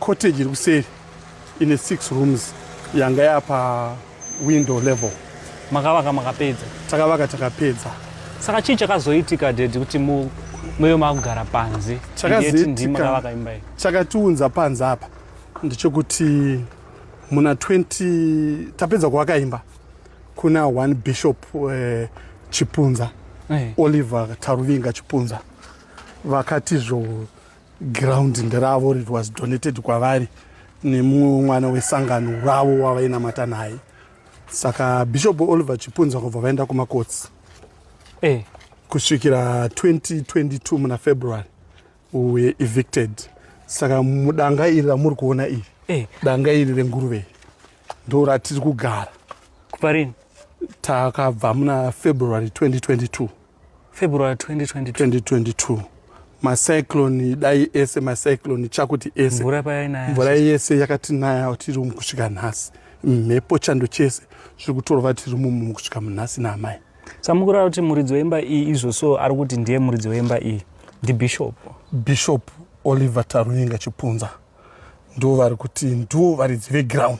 Cottage iri kuseri ine six rooms yanga yapa window level. Makavaka makapedza? Takavaka takapedza. Saka chii chakazoitika dedi kuti mu muyo makugara panze? Chakazoitika chakatiunza panze apa ndichokuti muna 20 tapedza kuvaka imba kuna one bishop uh, chipunza hey. Eh. oliver taruvinga chipunza vakatizvo ground nderavo it was donated kwavari nemumwe mwana wesangano ravo wavainamata naye saka bishop oliver chipunza kubva vaenda kumakotsi hey. Eh. kusvikira 2022 muna february we evicted saka mudanga iri ramuri kuona iri hey. Eh. danga iri renguruve ndo ratiri kugara kuparini takabva muna february 2022 February 2022. 2022 macyclone dai ese macyclone chakuti ese mvura payainaya mvura yese yakatinaya tiri umu kusvika nhasi mhepo chando chese zviri kutorova tiri mumu kusvika munhasi naamai samukurara kuti muridzi wemba iyi izvo so ari kuti ndiye muridzi wemba iyi ndibishop bishop oliver taruinga chipunza ndo vari kuti ndiwo varidzi veground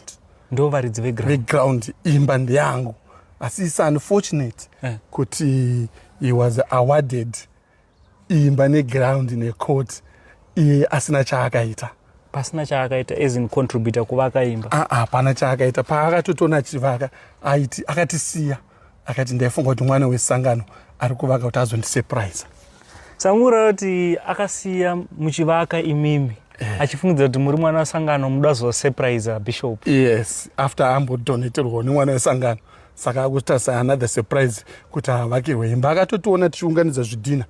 ndo varidzi veground imba ndeyangu asi is unfortunate eh. kuti he was awarded imba neground necourt iye asina chaakaita pasina chaakaita as in contributor kuvaka imba ah, ah, hapana chaakaita paakatotona achivaka aiti akatisiya ah, akati ndaifunga kuti mwana wesangano ari kuvaka kuti azondisepuraiza sangura kuti akasiya muchivaka imimi eh. achifungidzira kuti muri mwana wesangano muda kuzosepuraiza bishop yes after ambodoneterwawo nemwana wesangano saka akutarisa another surprise kuti havakirwe imba akatotiona tichiunganidza zvidhina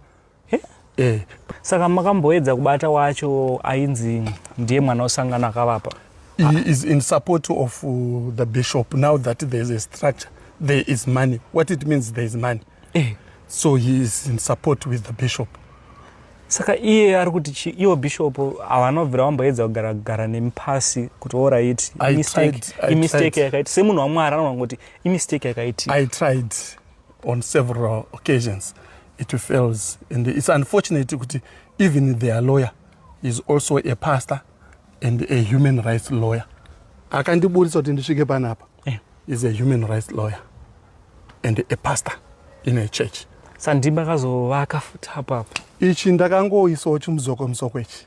eh? Eh. saka makamboedza kubata wacho ainzi ndiye mwana osangana akavapa he is in support of uh, the bishop now that there is a structure there is money what it means there is money eh. so he is in support with the bishop saka iye ari kuti chi iwo bishop avanobvira vamboedza kugara kugara nemi pasi kuti orit imistake yakaiti semunhu wamwari anoona kuti imistake yakaitii i tried on several occasions it fails and it's unfortunate kuti even their lawyer is also a pastor and a human rights lawyer akandiburitsa kuti ndisvike panapa eh. is a human rights lawyer and a pastor in a church sandimba akazovaka futi apo apo ichi ndakangoisawo chimuzoko musoko ichi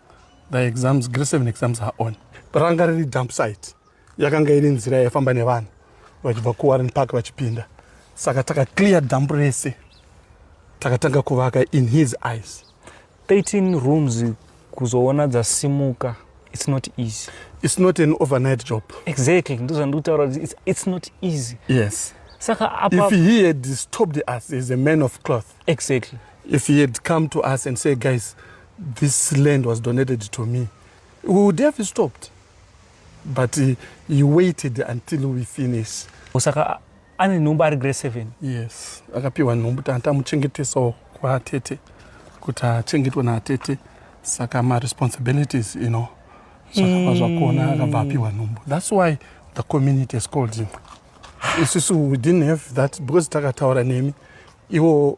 the exams grade seven exams are on ranga riri dump site yakanga iri nzira yaifamba nevanhu vachibva kuwarren park vachipinda saka takaclear dump rese takatanga kuvaka in his eyes 13 rooms kuzoona dzasimuka it's not easy it's not an overnight job exactly ndozvandikutaura it's, it's not easy yes saka apa if he had stopped us as a man of cloth exactly if he had come to us and say guys This land was donated to me. We would have stopped. But he, he waited until we finish. Osaka ane nhumbu ari grade 7. Yes. Akapiwa nhumbu tanta muchengeteso kwa tete. Kuti achengetwe na tete. Saka ma responsibilities, you know. Zvakabva zvakona akabva apiwa nhumbu. That's why the community is called him. Isusu we didn't have that because takataura nemi. Iwo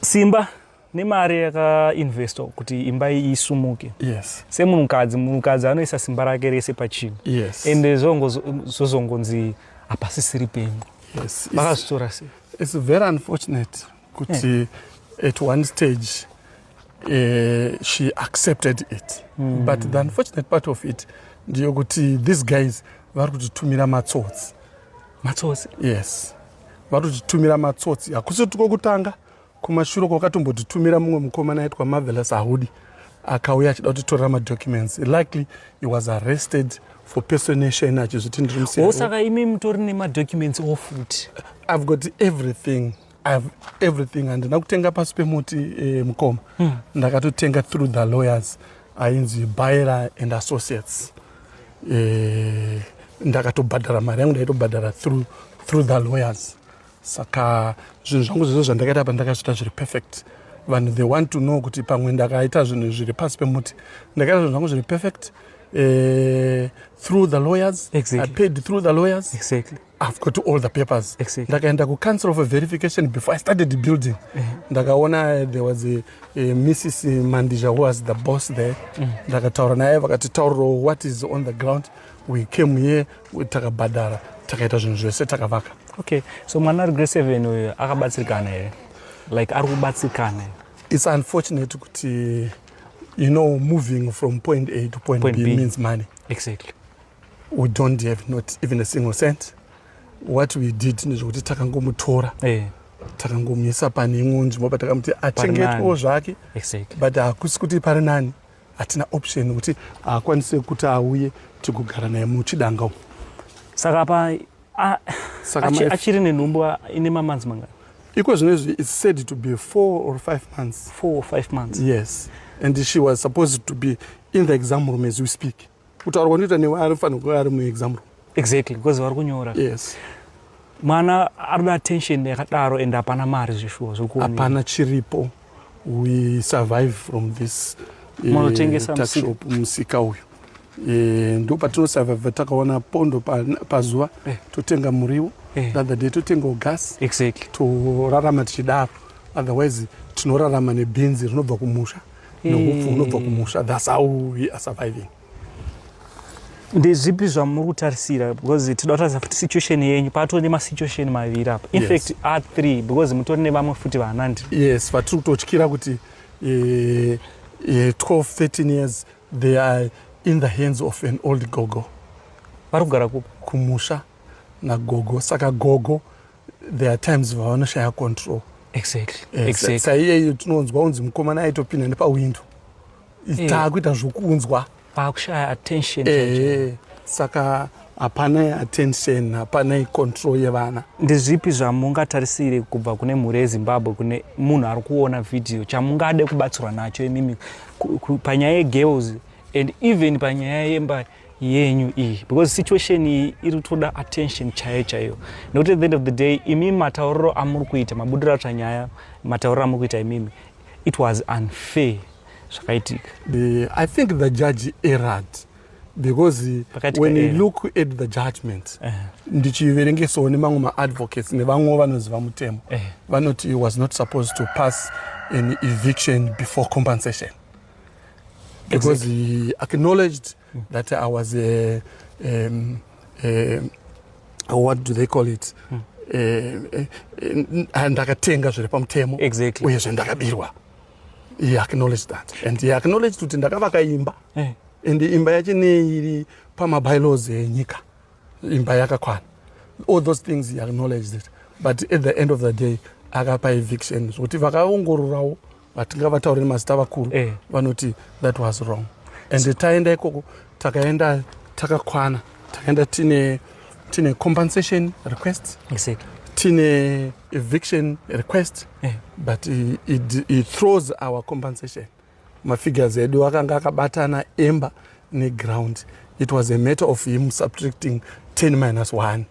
simba nemari yakainvestwa kuti imba iyi isumuke yes. semunhukadzi munhukadzi anoisa simba rake rese pachinhu yes. and zvozongonzi hapasisiri penyu yes. vakazvitora sei its very unfortunate kuti yeah. at one stage uh, she accepted it mm. but the unfortunate part of it ndiyokuti these guys vari kutitumira matsotsi matsotsi yes vatotitumira matsotsi hakusi tiko kutanga kumashure kwakatombotitumira mumwe mukomana aitwa marvelous ahudi akauya achida kutitorera madocuments likely he was arrested for personation achizviti ndiri musaka imi mutori nemadocuments ofuti i've got everything ihave everything handina kutenga pasi pemuti eh, mukoma hmm. ndakatotenga through the lawyers ainzi baira and associates eh, ndakatobhadhara mari yangu ndaitobhadhara through, through the lawyers saka zvinhu zvangu zvezvo zvandakaita pa ndakazviita zviri perfect vanhu they want to know kuti pamwe ndakaita zvinhu zviri pasi pemuti ndakaita zvinhu zvangu zviri perfect uh, through the lawyers exactly. i paid through the lawyers exactly. I've got all the papers. Exactly. Ndakaenda ku council for verification before I started the building. Eh. Ndakaona there was a, a Mrs. Mandija who was the boss there. Mm. Ndakataura naye vakati tauro what is on the ground. We came here takabhadhara takaita zvinhu zvese takavaka. Okay. So mwana ari grade 7 uyu akabatsirikana here? Like ari kubatsirikana. It's unfortunate kuti you know moving from point A to point, point B, B means money. Exactly. we don't have not even a single cent what we did nezvekuti takangomutora hey. Eh. takangomuisa pane imwe nzvimbo but takamuti achengetwewo zvake exactly. but hakusi kuti pari nani hatina option yekuti haakwanise kuti auye tigogara naye muchidanga umu saka pa achiri nenhumbu ine mamanzi mangani iko zvino izvi its said to be four or five months four or five months yes and she was supposed to be in the exam room as we speak kutaura kwandinoita newe anofanira kuva ari muexam room exactly because vari kunyora yes mwana anoda attention yakadaro and hapana mari zveshuwa zvokuhapana chiripo we survive from this eh, munotengesa uh, musika uyu eh, ndo patinosurvive takaona pondo pazuva pa eh. totenga muriwo eh. other day totengawo gas exactly torarama tichidaro otherwise tinorarama nebhinzi rinobva kumusha nohupfu hunobva kumusha thats how we are surviving ndezvipi zvamuri kutarisira because tida kutarisa futi situation yenyu patori nemasituation maviri apa infact yes. a three because mutori nevamwe futi vanandi yes vatiri kutotyira kuti uh, uh, 12 13 years they are in the hands of an old gogo vari kugara kupi kumusha nagogo saka gogo there are times vavanoshaya control exactly eh, exactly saiyeyo tinonzwa unzi mukomana aitopinda nepawindow eh. taakuita zvokunzwa paakushaya attention eh, saka hapanai attention hapanai control yevana ndezvipi zvamungatarisire kubva kune mhuri yezimbabwe kune munhu ari kuona vhidhiyo chamungade kubatsirwa nacho imimi panyaya yegirls and even panyaya yembari yenyu iyi because situation iyi iri kutoda attention chaiyo chaiyo nekuti at the end of the day imi matauriro amuri kuita mabudiro atsva nyaya matauriro amuri kuita imimi it was unfair zvakaitika i think the judge erad because when you look at the judgment eh. ndichiverengesawo nemamwe maadvocates nevamwewo vanoziva mutemo eh. vanoti was not supposed to pass an eviction before compensation Because exactly. he acknowledged mm. that I was a, um, a, a, what do they call it? Mm. Eh, eh, ndakatenga zviri pamutemo exactly. uyezve ndakabirwa he acknowledged that and he acknowledged kuti ndakavaka imba hey. Eh. and imba yacho neiri pamabylaws enyika imba yakakwana all those things he acknowledged it but at the end of the day akapa eviction zvokuti vakaongororawo vatingavataure nemazita vakuru eh. vanoti that was wrong and so, taenda ikoko takaenda takakwana takaenda tine tine compensation request exactly. tine eviction request eh. but he, he, he throws our compensation mafigures edu akanga akabatana emba neground it was a matter of him subtracting 10 minus 1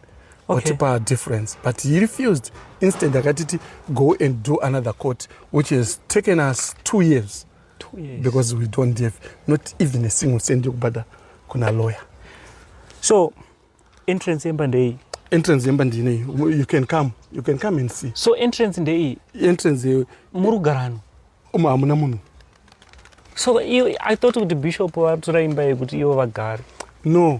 watipa okay. difference but he refused instant akatiti go and do another court which has taken us two years, two years. because we don't have not even a single cent yokubhadha kuna lawyer so entrance yemba ndeiyi entrance yemba ndinei you can come you can come and see so entrance ndeiyi entrance muri kugarano umo hamuna munhu so i thought kuti bishop vatora imba yekuti ivo vagari no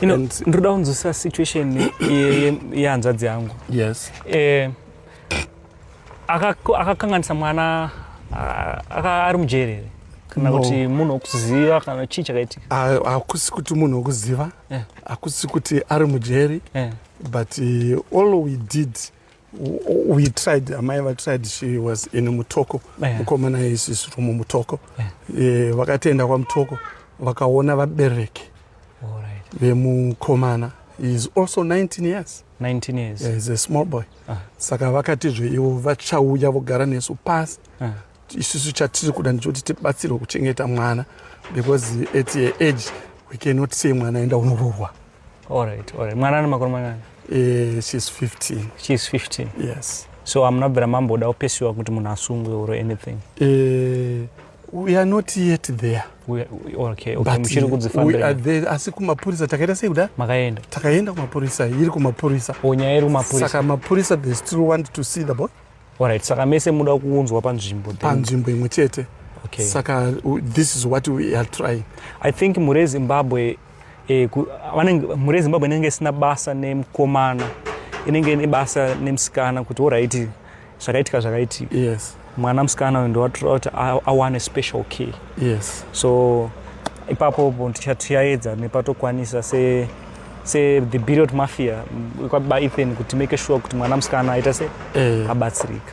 you know, ndinoda kunzwisisa situation yehanzvadzi yangu yes eh, akakanganisa mwana ari mujeri here kana kuti munhu wokuziva kana chii chakaitika hakusi kuti munhu wokuziva eh. hakusi kuti ari mujeri eh. but eh, all we did we tried amai vatried she was in mutoko yeah. mukomana isisi rumu mutoko yeah. e, vakatoenda kwamutoko vakaona vabereki right. vemukomana is also 19 years 19 years yeah, is a small boy uh. saka vakatizve ivo vachauya vogara nesu pasi uh. isusu chatiri kuda ndichoti tibatsirwe kuchengeta mwana because at your age we cannot say mwana enda unorohwa All right, all right. Mwana ane makore mangani? Eh, she's 15. She's 15. Yes. So amuna bvira mamboda kupesiwa kuti munhu asungwe or anything. Eh, we are not yet there. We, we, okay, okay. Muchiri kudzifambira. We are there asi kumapurisa takaenda sei kuda? Makaenda. Takaenda kumapurisa, iri kumapurisa. Onyaya oh, iri kumapurisa. Saka mapurisa they still want to see the boy. Alright, saka mese muda kuunzwa panzvimbo panzvimbo imwe chete okay. Saka this is what we are trying I think mure Zimbabwe eh, mure Zimbabwe inenge isina basa nemukomana inenge ine basa nemusikana kuti oraiti zvakaitika zvakaitika yes. mwana musikana uyu ndowatora kuti awane special key yes. so ipapo tichaedza nepatokwanisa se se the period mafia kwaba ethan kuti make sure kuti mwana musikana aita se eh. abatsirika